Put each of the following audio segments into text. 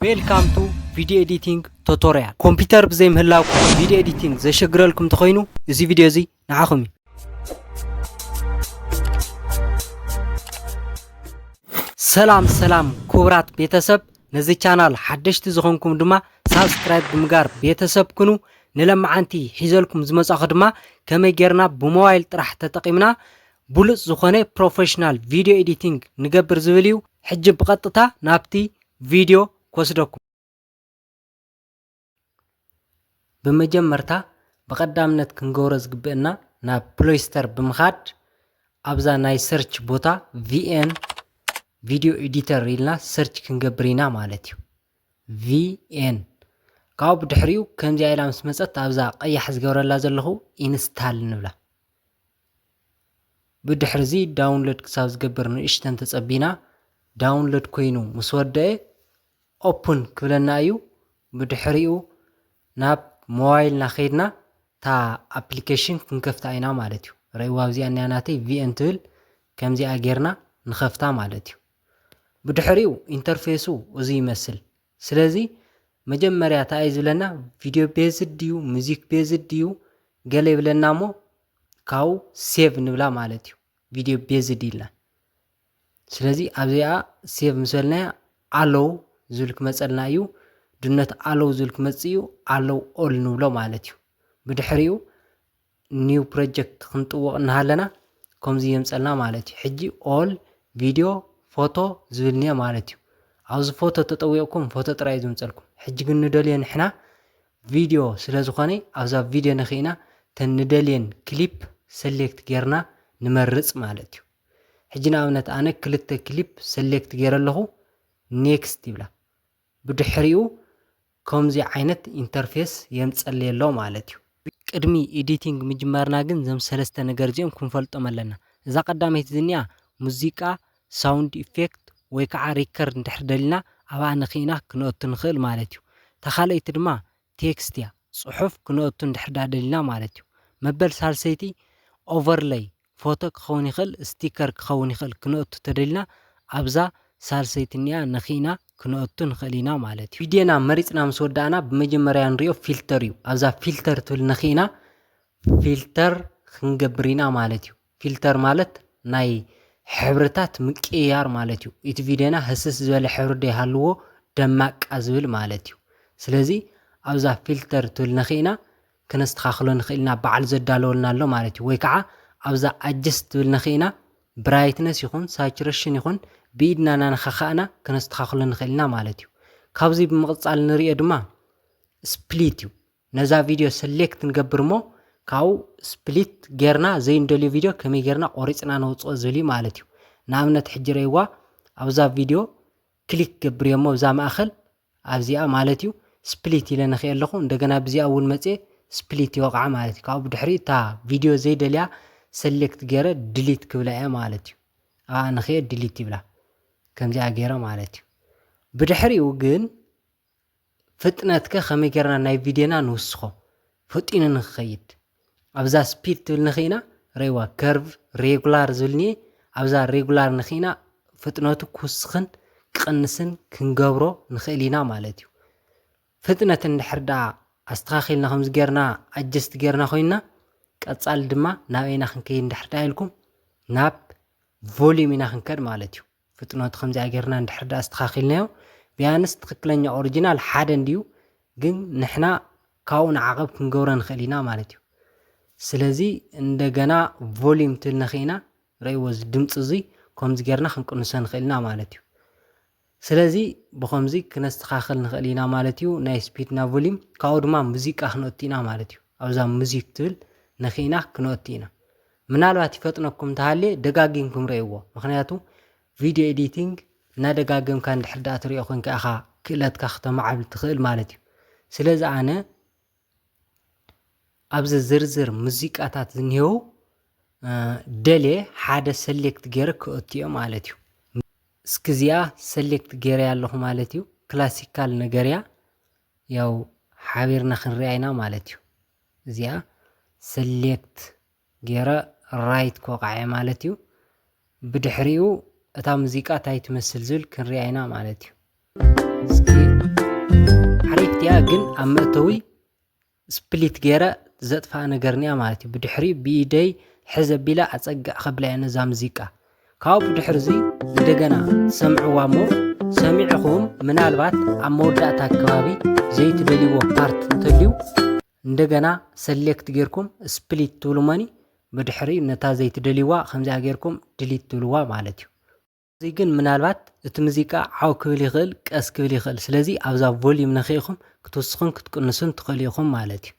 ዌልካም ቱ ቪድዮ ኤዲቲንግ ቶቶርያል ኮምፒተር ብዘይ ምህላውኩም ቪድዮ ኤዲቲንግ ዘሸግረልኩም እንተኾይኑ እዚ ቪድዮ እዚ ንዓኹም እዩ። ሰላም ሰላም ክቡራት ቤተሰብ ነዚ ቻናል ሓደሽቲ ዝኾንኩም ድማ ሳብስክራይብ ብምጋር ቤተሰብ ኩኑ። ንለመዓንቲ ሒዘልኩም ዝመጻኹ ድማ ከመይ ጌርና ብሞባይል ጥራሕ ተጠቒምና ብሉፅ ዝኾነ ፕሮፌሽናል ቪድዮ ኤዲቲንግ ንገብር ዝብል እዩ። ሕጂ ብቐጥታ ናብቲ ቪድዮ ክወስደኩም። ብመጀመርታ ብቐዳምነት ክንገብሮ ዝግብእና ናብ ፕሎይስተር ብምኻድ ኣብዛ ናይ ሰርች ቦታ ቪኤን ቪድዮ ኤዲተር ኢልና ሰርች ክንገብር ኢና ማለት እዩ ቪኤን ካብኡ ብድሕሪኡ ከምዚኣ ኢላ ምስ መፀት ኣብዛ ቀያሕ ዝገብረላ ዘለኹ ኢንስታል ንብላ ብድሕርዚ ዳውንሎድ ክሳብ ዝገብር ንእሽተን ተጸቢና ዳውንሎድ ኮይኑ ምስ ወደአ ኦፕን ክብለና እዩ ብድሕሪኡ ናብ ሞባይልና ከይድና እታ ኣፕሊኬሽን ክንከፍታ ኢና ማለት እዩ ረእዋ ኣብዚኣ እኒኣ ናተይ ቪኤን ትብል ከምዚኣ ጌርና ንኸፍታ ማለት እዩ ብድሕሪኡ ኢንተርፌሱ እዚ ይመስል ስለዚ መጀመርያ እታ እዩ ዝብለና ቪድዮ ቤዝድ ድዩ ሙዚክ ቤዝድ ድዩ ገለ ይብለና እሞ ካብኡ ሴቭ ንብላ ማለት እዩ ቪድዮ ቤዝድ ኢልና ስለዚ ኣብዚኣ ሴቭ ምስ በልናያ ኣሎው ዝብል ክመፀልና እዩ ድነት ኣሎው ዝብል ክመፅእ እዩ ኣሎው ኦል ንብሎ ማለት እዩ ብድሕሪኡ ኒው ፕሮጀክት ክንጥወቕ እናሃለና ከምዚ የምፀልና ማለት እዩ ሕጂ ኦል ቪድዮ ፎቶ ዝብል እኒአ ማለት እዩ ኣብዚ ፎቶ ተጠዊቕኩም ፎቶ ጥራይ እዩ ዝምፀልኩም ሕጂ ግን ንደልዮ ንሕና ቪድዮ ስለ ዝኾነ ኣብዛ ቪድዮ ነኪእና እተን ንደልየን ክሊፕ ሰሌክት ጌርና ንመርጽ ማለት እዩ። ሕጂ ንኣብነት ኣነ ክልተ ክሊፕ ሰሌክት ጌረ ኣለኹ ኔክስት ይብላ ብድሕሪኡ ከምዚ ዓይነት ኢንተርፌስ የምጸለይ ኣሎ ማለት እዩ። ቅድሚ ኤዲቲንግ ምጅማርና ግን እዞም ሰለስተ ነገር እዚኦም ክንፈልጦም ኣለና። እዛ ቀዳመይቲ ዝኒኣ ሙዚቃ ሳውንድ ኢፌክት ወይ ከዓ ሪከርድ እንድሕር ደሊና ኣብኣ ነኪእና ክነእቱ ንክእል ማለት እዩ። እታ ካልኣይቲ ድማ ቴክስት እያ ፅሑፍ ክነእቱ እንድሕር ድኣ ደሊና ማለት እዩ። መበል ሳልሰይቲ ኦቨርለይ ፎቶ ክኸውን ይክእል ስቲከር ክኸውን ይክእል ክነእቱ ተደሊና ኣብዛ ሳልሰይቲ እኒኣ ነኪእና ክነእቱ ንክእል ኢና ማለት እዩ። ቪድዮና መሪፅና ምስ ወዳእና ብመጀመርያ ንሪኦ ፊልተር እዩ ኣብዛ ፊልተር ትብል ነኪእና ፊልተር ክንገብር ኢና ማለት እዩ። ፊልተር ማለት ናይ ሕብርታት ምቅይያር ማለት እዩ እቲ ቪድዮና ህስስ ዝበለ ሕብሪ ዶ ይሃልዎ ደማቃ ዝብል ማለት እዩ ስለዚ ኣብዛ ፊልተር ትብል ነኪእና ክነስተካክሎ ንክእል ኢና ባዕሉ ዘዳለወልና ኣሎ ማለት እዩ ወይ ከዓ ኣብዛ ኣጀስት ትብል ነኪእና ብራይትነስ ይኩን ሳቹረሽን ይኩን ብኢድና ናነካካእና ክነስተካክሎ ንክእል ኢና ማለት እዩ ካብዚ ብምቅፃል ንሪኦ ድማ ስፕሊት እዩ ነዛ ቪድዮ ሰሌክት ንገብር እሞ ካብኡ ስፕሊት ጌርና ዘይንደልዮ ቪድዮ ከመይ ጌርና ቆሪጽና ነውጽኦ ዝብል እዩ ማለት እዩ። ንኣብነት ሕጂ ረእይዋ ኣብዛ ቪድዮ ክሊክ ክገብር እየ እሞ ኣብዛ ማእከል ኣብዚኣ ማለት እዩ ስፕሊት ኢለ ነክኤ ኣለኹ እንደገና ብዚኣ እውን መጽየ ስፕሊት ይወቕዓ ማለት እዩ። ካብኡ ብድሕሪ እታ ቪድዮ ዘይደልያ ሰሌክት ጌረ ድሊት ክብላ እየ ማለት እዩ። ኣብኣ ነክኤ ድሊት ይብላ ከምዚኣ ጌረ ማለት እዩ። ብድሕሪኡ ግን ፍጥነትከ ከመይ ጌርና ናይ ቪድዮና ንውስኾ ፈጢኑ ንክኸይድ ኣብዛ ስፒድ ትብል ንክኢና ረይዋ ከርቭ ሬጉላር ዝብል እኒኤ ኣብዛ ሬጉላር ንክኢና ፍጥነቱ ክውስኽን ክቕንስን ክንገብሮ ንኽእል ኢና ማለት እዩ ፍጥነት እንድሕር ደኣ ኣስተኻኺልና ከምዚ ጌርና ኣጀስት ጌርና ኮይንና ቀጻሊ ድማ ናበይና ክንከይድ እንድሕር ደኣ ኢልኩም ናብ ቮሊዩም ኢና ክንከድ ማለት እዩ ፍጥነቱ ከምዚኣ ጌርና እንድሕር ድኣ ኣስተኻኺልናዮ ቢያንስ ትኽክለኛ ኦሪጂናል ሓደ እንድዩ ግን ንሕና ካብኡ ንዓቐብ ክንገብሮ ንኽእል ኢና ማለት እዩ። ስለዚ እንደገና ቮሊዩም ትል ነኺእና ረእይዎ እዚ ድምፂ እዙይ ከምዚ ጌርና ክንቅንሶ ንኽእል ኢና ማለት እዩ። ስለዚ ብኸምዚ ክነስተኻኽል ንኽእል ኢና ማለት እዩ ናይ ስፒድና ቮሊዩም ካብኡ ድማ ሙዚቃ ክነእቱ ኢና ማለት እዩ። ኣብዛ ሙዚክ ትብል ነኺእና ክነእቱ ኢና። ምናልባት ይፈጥነኩም ተሃልየ ደጋጊምኩም ረእይዎ ምኽንያቱ ቪድዮ ኤዲቲንግ እናደጋገምካ እንድሕር ደኣ ትሪኦ ኮንካ ኢኻ ክእለትካ ክተማዕብል ትኽእል ማለት እዩ ስለዚ ኣነ ኣብዚ ዝርዝር ሙዚቃታት ዝኒሄው ደልየ ሓደ ሰሌክት ገይረ ክእትዮ ማለት እዩ። እስኪ እዚኣ ሰሌክት ገይረ ኣለኹ ማለት እዩ። ክላሲካል ነገር እያ ያው ሓቢርና ክንሪኣ ኢና ማለት እዩ። እዚኣ ሰሌክት ጌረ ራይት ክወቕዓ'የ ማለት እዩ። ብድሕሪኡ እታ ሙዚቃ ታይ ትመስል ዝብል ክንሪኣ ኢና ማለት እዩ። እስኪ ሓሪፍ ድያ ግን ኣብ መእተዊ ስፕሊት ጌረ ዘጥፋኣ ነገርኒያ ማለት እዩ። ብድሕሪኡ ብኢደይ ሕዝ ኣቢለ ኣጸግዕ ከብላ እየ ነዛ ሙዚቃ። ካብኡ ድሕርዚ እንደገና ሰምዕዋ እሞ ሰሚዕኹም ምናልባት ኣብ መወዳእታ ከባቢ ዘይትደልይዎ ፓርት እንተልዩ እንደገና ሰሌክት ጌርኩም ስፕሊት ትብሉ መኒ ብድሕሪ ነታ ዘይትደልይዋ ከምዚኣ ጌርኩም ድሊት ትብልዋ ማለት እዩ እዚ ግን ምናልባት እቲ ሙዚቃ ዓው ክብል ይኽእል ቀስ ክብል ይኽእል ስለዚ ኣብዛ ቮልዩም ነኺኢኹም ክትውስኹን ክትቅንሱን ትኽእሉ ኢኹም ማለት እዩ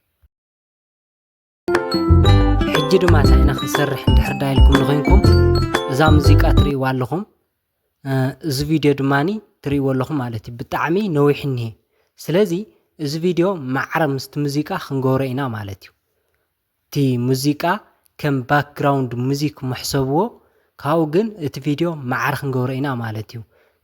ሕጂ ድማ እንታይ ኢና ክንሰርሕ እንድሕር ዳ ኢልኩም ንኮይንኩም እዛ ሙዚቃ ትርእይዋ ኣለኹም እዚ ቪድዮ ድማኒ ትርእይዎ ኣለኹም ማለት እዩ ብጣዕሚ ነዊሕ እኒሄ ስለዚ እዚ ቪድዮ ማዕረ ምስቲ ሙዚቃ ክንገብሮ ኢና ማለት እዩ እቲ ሙዚቃ ከም ባክግራውንድ ሙዚክ ምሕሰብዎ ካብኡ ግን እቲ ቪድዮ ማዕረ ክንገብሮ ኢና ማለት እዩ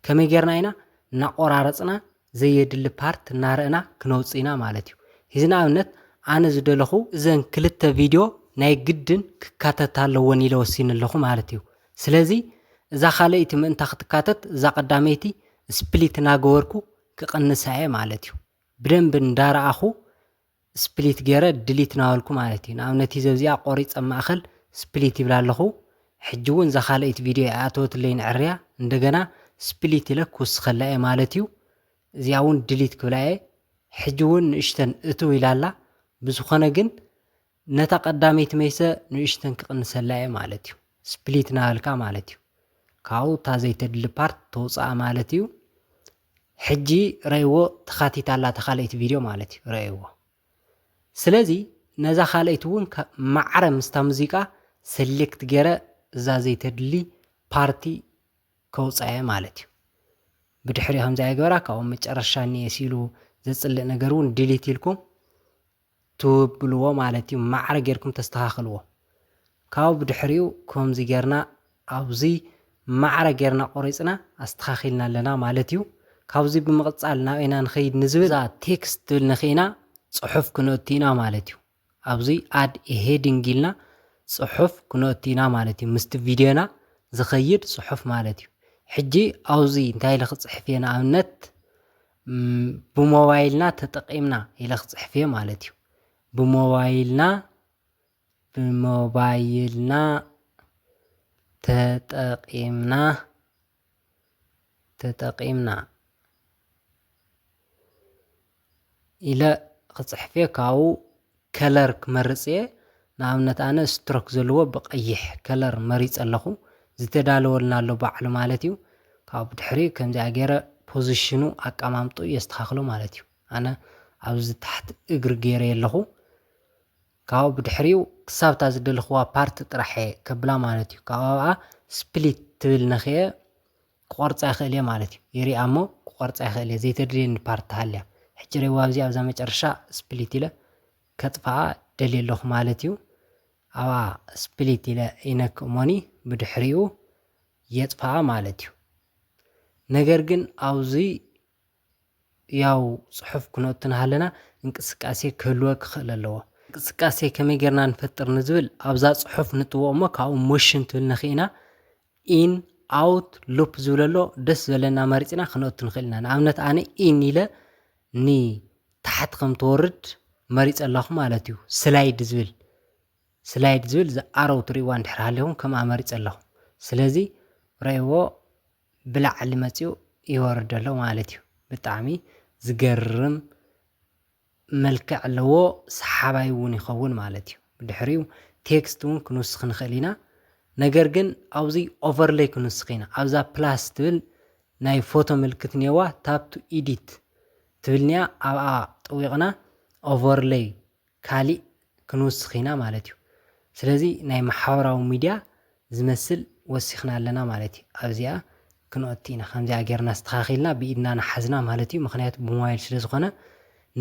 ከመይ ጌርና ኢና እናቆራረፅና ዘየድሊ ፓርት እናረእና ክነውጽእ ኢና ማለት እዩ እዚ ንኣብነት ኣነ ዝደለኹ እዘን ክልተ ቪድዮ ናይ ግድን ክካተታ ኣለወን ኢለ ወሲነ ኣለኹ ማለት እዩ ስለዚ እዛ ካልኣይቲ ምእንታ ክትካተት እዛ ቀዳመይቲ ስፕሊት ናገበርኩ ክቅንሳ እየ ማለት እዩ ብደንቢ እንዳረኣኹ ስፕሊት ገይረ ድሊት ናበልኩ ማለት እዩ ንኣብነት እዚ ኣብዚኣ ቆሪፀ ኣብ ማእኸል ስፕሊት ይብላ ኣለኹ ሕጂ እውን እዛ ካልኣይቲ ቪድዮ ኣይኣተወትለይን ዕርያ እንደገና ስፕሊት ኢለ ክውስኸላ እየ ማለት እዩ እዚኣ እውን ድሊት ክብላ እየ ሕጂ እውን ንእሽተን እትው ኢላ ኣላ ብዝኾነ ግን ነታ ቀዳመይቲ መይሰ ንእሽተን ክቕንሰላ እየ ማለት እዩ ስፕሊት ናበልካ ማለት እዩ ካብኡ እታ ዘይተድሊ ፓርት ተውፅኣ ማለት እዩ ሕጂ ረእይዎ ተካቲታ ኣላ እታ ካልኣይቲ ቪድዮ ማለት እዩ ረእይዎ ስለዚ ነዛ ካልኣይቲ እውን ማዕረ ምስታ ሙዚቃ ሰሌክት ገረ እዛ ዘይተድሊ ፓርቲ ከውጻየ ማለት እዩ ብድሕሪ ከምዚ ኣይገበራ ካብኡ መጨረሻ እኒኤ ሲሉ ዘጽልእ ነገር እውን ዲሊት ኢልኩም ትብልዎ ማለት እዩ ማዕረ ጌርኩም ተስተኻኽልዎ ካብኡ ብድሕሪኡ ኮምዚ ጌርና ኣብዚ ማዕረ ጌርና ቆሪጽና ኣስተኻኺልና ኣለና ማለት እዩ ካብዚ ብምቕጻል ናብ ኢና ንኸይድ ንዝብል እዛ ቴክስት ትብል ነኺእና ጽሑፍ ክነእቱ ኢና ማለት እዩ ኣብዚ ኣድ ኤ ሄዲንግ ኢልና ጽሑፍ ክነእቱ ኢና ማለት እዩ ምስቲ ቪድዮና ዝኸይድ ጽሑፍ ማለት እዩ ሕጂ ኣብዚ እንታይ ኢለ ክጽሕፍ እየ ንኣብነት ብሞባይልና ተጠቒምና ኢለ ክፅሕፍ እየ ማለት እዩ። ብሞባይልና ብሞባይልና ተጠቒምና ተጠቒምና ኢለ ክፅሕፍ እየ። ካብኡ ከለር ክመርጽ እየ ንኣብነት ኣነ ስትሮክ ዘለዎ ብቀይሕ ከለር መሪጸ ኣለኩ ዝተዳለወልና ኣሎ ባዕሉ ማለት እዩ ካብኡ ብድሕሪ ከምዚኣ ገይረ ፖዝሽኑ ኣቀማምጥኡ የስተካክሎ ማለት እዩ ኣነ ኣብዚ ታሕቲ እግሪ ገይረዮ ኣለኩ ካብኡ ብድሕሪኡ ክሳብ እታ ዝደለክዋ ፓርት ጥራሕ እየ ከብላ ማለት እዩ ካብኡ ኣብኣ ስፕሊት ትብል ነክየ ክቆርጻ ይክእልየ ማለት እዩ ይሪኣ እሞ ክቆርጻ ይክእልየ ዘይተድልየኒ ፓርት ተሃልያ ሕጂ ሬዋ ኣብዚ ኣብዛ መጨረሻ ስፕሊት ኢለ ከጥፍኣ ደልየ ኣለኩ ማለት እዩ ኣብኣ ስፕሊት ኢለ ይነክእ ሞኒ ብድሕሪኡ የጥፍኣ ማለት እዩ ነገር ግን ኣብዙይ ህያው ጽሑፍ ኩነቱ ንሃለና እንቅስቃሴ ክህልወ ክኽእል ኣለዎ። እንቅስቃሴ ከመይ ጌርና ንፈጥር ንዝብል ኣብዛ ጽሑፍ ንጥዎ እሞ ካብኡ ሞሽን ትብል ነኺእና ኢን ኣውት ሉፕ ዝብል ኣሎ ደስ ዝበለና መሪጽና ክነቱ ንኽእል ኢና። ንኣብነት ኣነ ኢን ኢለ ን ታሕቲ ከም ትወርድ መሪጸ ኣለኹ ማለት እዩ ስላይድ ዝብል ስላይድ ዝብል ዝኣረው ትርእይዋ እንድሕር ሃሊኹም ከምኣ መሪጸ ኣለኹ ስለዚ ረእይዎ ብላዕሊ መጺኡ ይወርድ ኣሎ ማለት እዩ ብጣዕሚ ዝገርም መልክዕ ኣለዎ ሰሓባይ ውን ይኸውን ማለት እዩ ብድሕሪኡ ቴክስት ውን ክንውስኽ ንኽእል ኢና ነገር ግን ኣብዚ ኦቨርለይ ክንውስኽ ኢና ኣብዛ ፕላስ ትብል ናይ ፎቶ ምልክት ኔዋ ታፕ ቱ ኢዲት ትብልንያ ኣብኣ ጠዊቕና ኦቨርለይ ካሊእ ክንውስኽ ኢና ማለት እዩ። ስለዚ ናይ ማሕበራዊ ሚድያ ዝመስል ወሲኽና ኣለና ማለት እዩ። ኣብዚኣ ክንኦቲ ኢና ከምዚኣ ገይርና ኣስተኻኺልና ብኢድና ናሓዝና ማለት እዩ ምኽንያቱ ብሞባይል ስለዝኾነ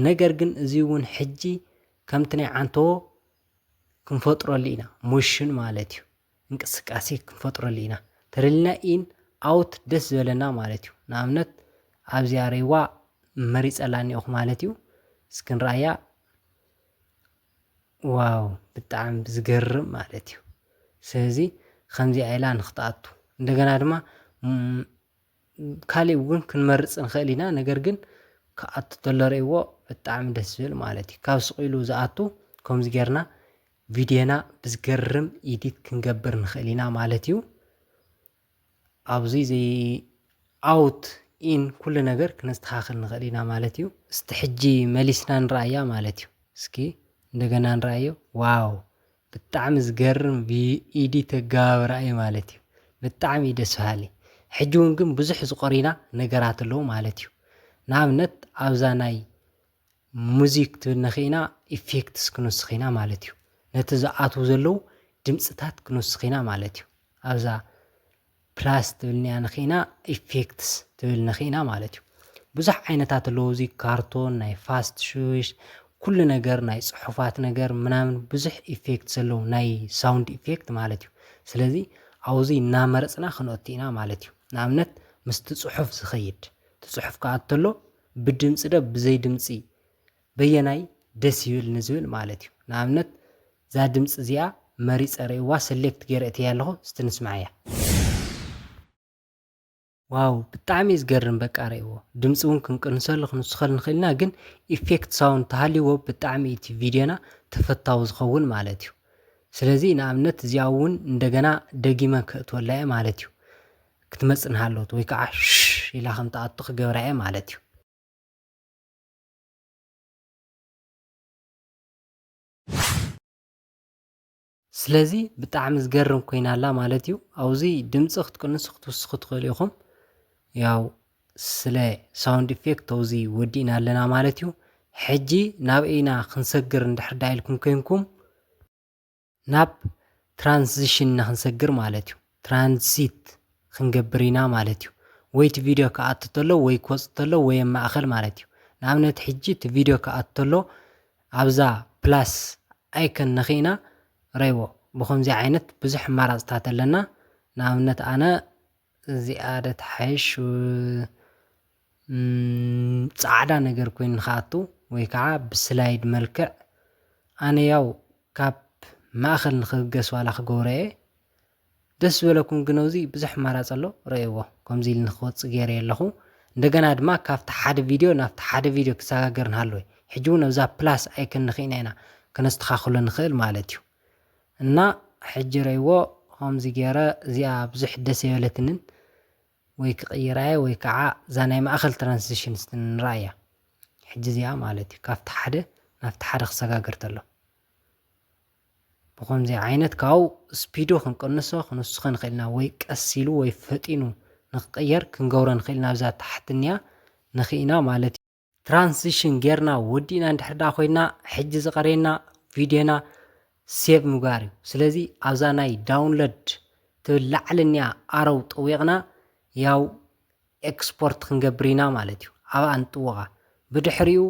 ነገር ግን እዚ እውን ሕጂ ከምቲ ናይ ዓንተዎ ክንፈጥረሉ ኢና ሞሽን ማለት እዩ። እንቅስቃሴ ክንፈጥረሉ ኢና ተደሊና ኢን ኣውት ደስ ዝበለና ማለት እዩ ንኣብነት ኣብዚኣ ሬዋ መሪጸላ እኒኦኹ ማለት እዩ እስኪ ንርኣያ ዋው ብጣዕሚ ዝገርም ማለት እዩ ስለዚ ከምዚኣ ኢላ ንክትኣቱ እንደገና ድማ ካልእ እውን ክንመርፅ ንኽእል ኢና ነገር ግን ክኣቱ ተሎ ርእይዎ ብጣዕሚ ደስ ዝብል ማለት እዩ ካብ ስቕ ኢሉ ዝኣቱ ከምዚ ጌርና ቪድዮና ብዝገርም ኢዲት ክንገብር ንኽእል ኢና ማለት እዩ። ኣብዙይ ዘይ ኣውት ኢን ኩሉ ነገር ክነስተኻኽል ንኽእል ኢና ማለት እዩ። እስቲ ሕጂ መሊስና ንረኣያ ማለት እዩ። እስኪ እንደገና ንረኣዮ። ዋው ብጣዕሚ ዝገርም ኢዲት ኣገባብራ እዩ ማለት እዩ። ብጣዕሚ እዩ ደስ በሃሊ። ሕጂ እውን ግን ብዙሕ ዝቆሪና ነገራት ኣለዉ ማለት እዩ። ንኣብነት ኣብዛ ናይ ሙዚክ ትብልና ኪኢና ኢፌክትስ ክንውስኽ ኢና ማለት እዩ። ነቲ ዝኣትዉ ዘለዉ ድምጽታት ክንውስኽ ኢና ማለት እዩ። ኣብዛ ፕላስ ትብልንያ ንኪኢና ኢፌክትስ ትብል ንኪኢና ማለት እዩ። ብዙሕ ዓይነታት ኣለዉ እዚ ካርቶን ናይ ፋስት ሽሽ ኩሉ ነገር ናይ ጽሑፋት ነገር ምናምን ብዙሕ ኢፌክት ዘለዉ ናይ ሳውንድ ኢፌክት ማለት እዩ። ስለዚ ኣብዙይ እናመረጽና ክንኦቲ ኢና ማለት እዩ። ንኣብነት ምስቲ ጽሑፍ ዝኸይድ እቲ ጽሑፍ ክኣ ተሎ ብድምጺ ዶ ብዘይ ድምጺ በየናይ ደስ ይብል ንዝብል ማለት እዩ ንኣብነት እዛ ድምጺ እዚኣ መሪጸ ርእይዋ ሰሌክት ጌረ እትያ ኣለኹ እስቲ ንስምዓያ። ዋው ብጣዕሚ እዩ ዝገርም በቃ ረእዎ ድምፂ እውን ክንቅንሰሉ ክንውስኸሉ ንኽእል ኢና ግን ኢፌክት ሳውንድ ተሃልይዎ ብጣዕሚ እዩ እቲ ቪድዮና ተፈታዊ ዝኸውን ማለት እዩ ስለዚ ንኣብነት እዚኣ እውን እንደገና ደጊመ ክእትወላ እየ ማለት እዩ ክትመጽእ እንሃለወት ወይ ከኣ ሽሽ ኢላ ከም ትኣቱ ክገብራ እየ ማለት እዩ። ስለዚ ብጣዕሚ ዝገርም ኮይና ኣላ ማለት እዩ። ኣብዚ ድምጺ ክትቅንሱ ክትውስኹ ትኽእሉ ኢኹም። ያው ስለ ሳውንድ ኢፌክት ተውዚ ወዲእና ኣለና ማለት እዩ ሕጂ ናብ እይና ክንሰግር እንድሕር ዳ ኢልኩም ኮንኩም ናብ ትራንዚሽን ንክንሰግር ማለት እዩ ትራንዚት ክንገብር ኢና ማለት እዩ ወይ እቲ ቪድዮ ክኣቱ ተሎ ወይ ክወፅ ተሎ ወይ ኣብ ማእኸል ማለት እዩ ንኣብነት ሕጂ እቲ ቪድዮ ክኣቱ ተሎ ኣብዛ ፕላስ ኣይከን ነኺእና ረይዎ ብከምዚ ዓይነት ብዙሕ ኣማራፅታት ኣለና ንኣብነት ኣነ እዚኣ ዶ ትሓይሽ ጻዕዳ ነገር ኮይኑ ንክኣቱ ወይ ከዓ ብስላይድ መልክዕ ኣነ ያው ካብ ማእኸል ንክብገስ ዋላ ክገብሮ እየ ደስ ዝበለኩም ግን ኣብዚ ብዙሕ ኣማራፂ ኣሎ ረእይዎ ከምዚ ኢሉ ንክወፅእ ገይረዮ ኣለኹ እንደገና ድማ ካብቲ ሓደ ቪድዮ ናብቲ ሓደ ቪድዮ ክሰጋገር ንሃለወ ሕጂ እውን ኣብዛ ፕላስ ኣይከን ንክኢና ኢና ከነስተኻኽሎ ንኽእል ማለት እዩ እና ሕጂ ረእይዎ ከምዚ ገይረ እዚኣ ብዙሕ ደስ ኣይበለትንን ወይ ክቅይራየ ወይ ክዓ እዛ ናይ ማእከል ትራንስዚሽን እስቲ ንርኣያ ሕጂ እዚኣ ማለት እዩ ካብቲ ሓደ ናብቲ ሓደ ክሰጋገር ተሎ ብከምዚ ዓይነት ካብኡ ስፒዱ ክንቅንሶ ክንውስኮ ንክእል ኢና ወይ ቀስ ኢሉ ወይ ፈጢኑ ንክቅየር ክንገብሮ ንክእል ኢና ኣብዛ ታሕቲ እኒኣ ንክኢና ማለት እዩ። ትራንስሽን ጌርና ወዲእና እንድሕር ደኣ ኮይና ሕጂ ዝቐርየና ቪድዮና ሴቭ ምግባር እዩ ስለዚ ኣብዛ ናይ ዳውንሎድ ትብል ላዕሊ እኒኣ ኣረው ጠዊቕና ያው ኤክስፖርት ክንገብር ኢና ማለት እዩ ኣብኣ ንጥወቓ ብድሕሪኡ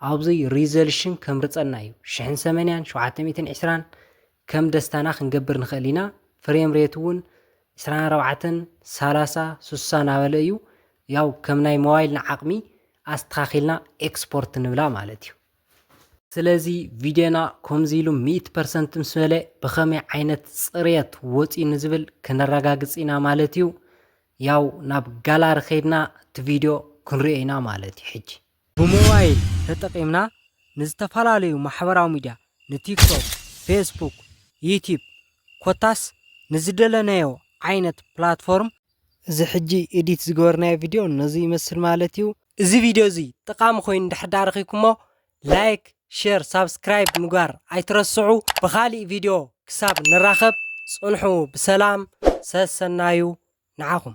ኣብዚ ሪዘልሽን ከምርፀና እዩ ሽሕን ሰመንያን ሸውዓተ ሚእትን ዕስራን ከም ደስታና ክንገብር ንክእል ኢና ፍሬም ሬት እውን ዕስራን ኣርባዕተን ሳላሳ ሱሳ ናበለ እዩ ያው ከም ናይ ሞባይልና ዓቅሚ ኣስተካኪልና ኤክስፖርት ንብላ ማለት እዩ። ስለዚ ቪድዮና ኮምዚ ኢሉ ሚእቲ ፐርሰንት ምስ በለ ብከመይ ዓይነት ፅርየት ወፅዩ ንዝብል ክነረጋግፅ ኢና ማለት እዩ። ያው ናብ ጋላሪ ከይድና እቲ ቪድዮ ክንሪኦ ኢና ማለት እዩ ሕጂ። ብሞባይል ተጠቒምና ንዝተፈላለዩ ማሕበራዊ ሚድያ ንቲክቶክ፣ ፌስቡክ፣ ዩትዩብ ኮታስ ንዝደለናዮ ዓይነት ፕላትፎርም። እዚ ሕጂ ኤዲት ዝገበርናዮ ቪድዮ ነዚ ይመስል ማለት እዩ። እዚ ቪድዮ እዚ ጠቓሚ ኮይኑ እንድሕር ድኣ ረኺብኩሞ ላይክ፣ ሼር፣ ሳብስክራይብ ምግባር ኣይትረስዑ። ብኻሊእ ቪድዮ ክሳብ ንራኸብ ጽንሑ ብሰላም ሰሰናዩ ንዓኹም።